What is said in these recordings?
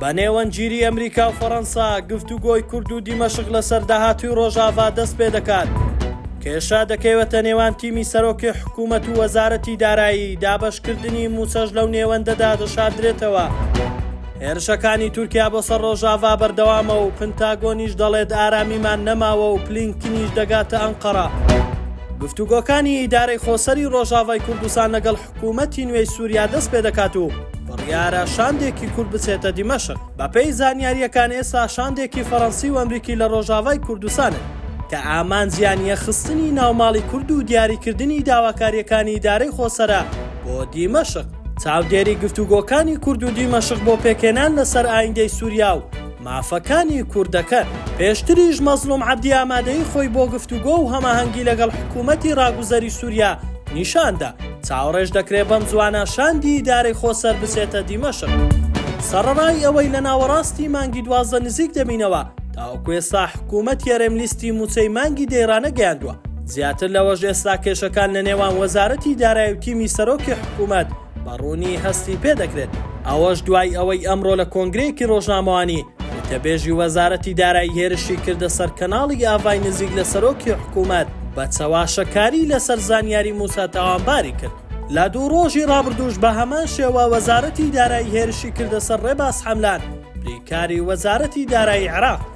بە نێوەندگیری ئەمریکا و فەڕەنسا گفتوگۆی کورد و دیمەشق لەسەر داهاتووی ڕۆژاڤا دەست پێ دەکات. کێشە دەکەوێتە نێوان تیمی سەرۆکی حکوومەت و وەزارەتی دارایی دابەشکردنی موچەش لەو نێوەندەدا دەشاردرێتەوە. هێرشەکانی تورکیا بۆ سەر ڕۆژاڤا بەردەوامە و پنتاگۆنیش دەڵێت ئارامیمان نەماوە و پلینکتنیش دەگاتە ئەنقەرە. گفتوگۆکانی ئیدارەی خۆسەری ڕۆژاڤای کوردستان لەگەڵ حکوومەتی نوێی سووریا دەست پێ دەکات و بڕیارە شاندێکی کورد بچێتە دیمەشق. بەپێی زانیارییەکان ئێستا شاندێکی فەرەنسی و ئەمریکی لە ڕۆژاڤای کوردستانن کە ئامانجیان یەخستنی ناوماڵی کورد و دیاریکردنی داواکارییەکانی ئیدارەی خۆسەرە بۆ دیمەشق. چاودێری گفتوگۆکانی کورد و دیمەشق بۆ پێکهێنان لەسەر ئایندەی سووریا و مافەکانی کوردەکەن. پێشتریش مەزڵوم عەبدی ئامادەیی خۆی بۆ گفتوگۆ و هەماهەنگی لەگەڵ حکوومەتی ڕاگوزەری سووریا نیشان دا. چاوەڕێش دەکرێ بەم زووانە شاندی ئیدارەی خۆسەر بچێتە دیمەشق. سەڕەڕای ئەوەی لە ناوەڕاستی مانگی دوازدە نزیک دەبینەوە، تاوەکو ئێستا حکوومەتی هەرێم لیستی مووچەی مانگی دەی ڕانەگەیاندووە. زیاتر لەوەش ئێستا کێشەکان لە نێوان وەزارەتی دارایی و تیمی سەرۆکی حکوومەت، بە ڕوونی هەستی پێ دەکرێت، ئەوەش دوای ئەوەی ئەمڕۆ لە کۆنگرەیەکی ڕۆژنامەوانی، وتەبێژی وەزارەتی دارایی هێرشی کردە سەر کەناڵی ئاڤای نزیک لە سەرۆکی حکوومەت، بە چەواشەکاری لەسەر زانیاری مووسا تاوانباری کرد. لە دوو ڕۆژی ڕابردووش بە هەمان شێوە وەزارەتی دارایی هێرشی کردە سەر ڕێباز حەملان، بریکاری وەزارەتی دارایی عێراق.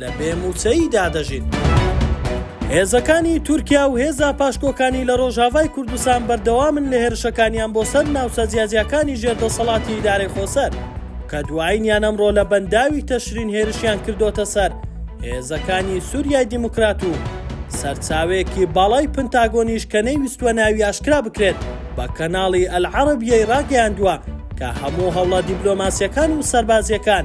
لە بێ مووچەییدا دەژین. هێزەکانی تورکیا و هێزە پاشکۆکانی لە ڕۆژاڤای کوردستان بەردەوامن لە هێرشەکانیان بۆ سەر ناوچە جیاجیاکانی ژێر دەسەڵاتی ئیدارەی خۆسەر، کە دوایینیان ئەمڕۆ لە بەنداوی تەشرین هێرشیان کردۆتە سەر هێزەکانی سوریای دیموکرات و سەرچاوەیەکی باڵای پنتاگۆنیش کە نەیویستووە ناوی ئاشکرا بکرێت بە کەناڵی ئەلعەرەبیەی ڕاگەیاندووە کە هەموو هەوڵە دیبلۆماسیەکان و سەربازیەکان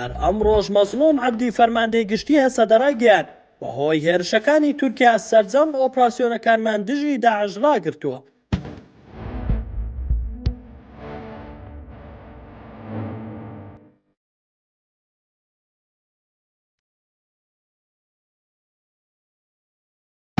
هەر ئەمڕۆش مەزڵوم عەبدی فەرماندەی گشتی هەسەدە ڕایگەیاند، بەهۆی هێرشەکانی تورکیا سەرجەم ئۆپراسیۆنەکانمان دژی داعش ڕاگرتووە.